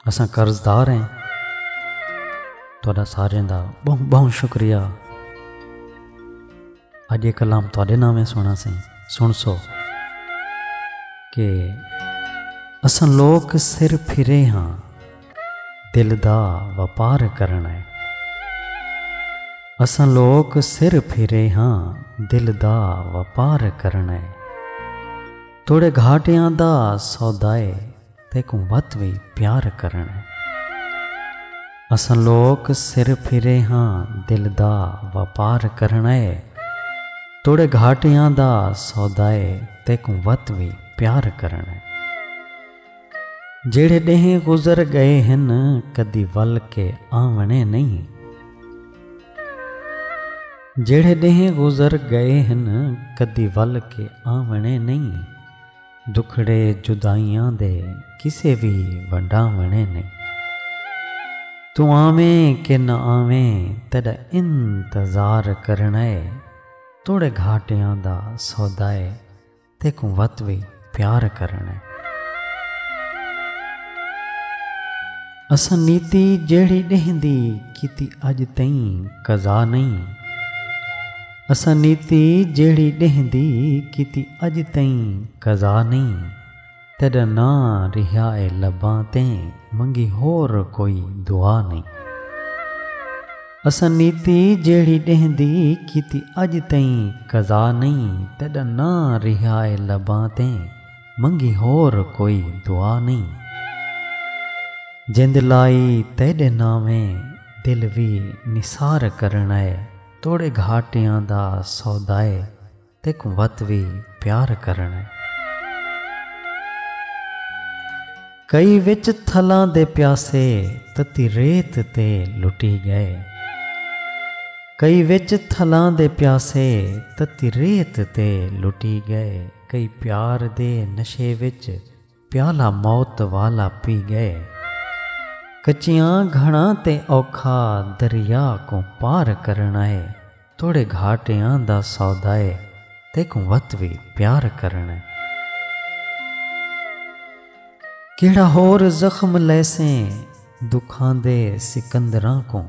اساں قرض دار ہیں تہاڈا سارے دا بہت بہت شکریہ اج یہ کلام تہاڈے نامے سنا سی سن سو کہ اساں لوگ سر پھرے ہاں دل دا وپار کرنا ہے اساں لوگ سر پھرے ہاں دل دا وپار کرنا ہے توڑے گھاٹیاں دا سودائے تیکوں ودھ وی پیار کرݨ اے۔ اساں لوک سر پھرے ہاں دل دا وپار کرݨ اے۔ توڑے گھاٹیاں دا سودا اے تیکوں ودھ وی پیار کرݨ اے۔ جیڑھے ݙینہہ گزر ڳئے ہن کدی ول کے آوݨے نئیں۔ جیڑھے ݙینہہ گزر ڳئے ہن کدی ول کے آوݨے نئیں۔ دکھڑے جدائیاں دے کسے وی ونڈاوݨے نئیں۔ توں آویں کہ نہ آویں تیݙا انتظار کرݨا اے توڑے گھاٹیاں دا سودا اے تیکوں وت وی پیار کرݨا اے۔ اساں نیتی جیڑھی ݙینہہ دی کیتی اڄ تئیں قضا نئیں۔ اساں نیتی جیڑھی ݙینہہ دی کیتی اڄ تئیں قضا نئیں تیݙا ناں ریہا اے لباں تے منگی ہور کوئی دعا نئیں اساں نیتی جیڑھی ݙینہہ دی کیتی اڄ تئیں قضا نئیں تیݙا ناں ریہا اے لباں تے منگی ہور کوئی دعا نئیں جند لائی تیݙے ناویں دل وی نثار کرݨا اے۔ توڑے گھاٹیاں دا سودائے تیک وت وی پیار کرݨے۔ کئی وچ تھلاں دے پیاسے تتی ریت تے لٹی ڳئے۔ کئی وچ تھلاں دے پیاسے تتی ریت تے لٹی ڳئے۔ کئی پیار دے نشے وچ۔ پیالہ موت والا پی ڳئے۔ کچیاں گھنڑاں تے اوکھا دریا کوں پار کرݨا اے توڑے گھاٹیاں دا سودا اے تیکوں وت وی پیار کرݨا اے۔ کیڑھا ہور زخم لیسیں دکھاندے سکندراں کوں۔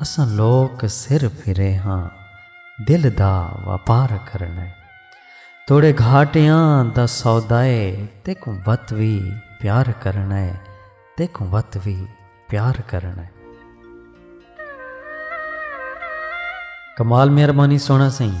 اساں لوک سر پھرے ہاں دل دا واپار کرݨے توڑے گھاٹیاں دا سودائے تیکوں وت وی پیار کرݨے تیکوں وت وی پیار کرݨے۔ کمال مہربانی سونا سئیں۔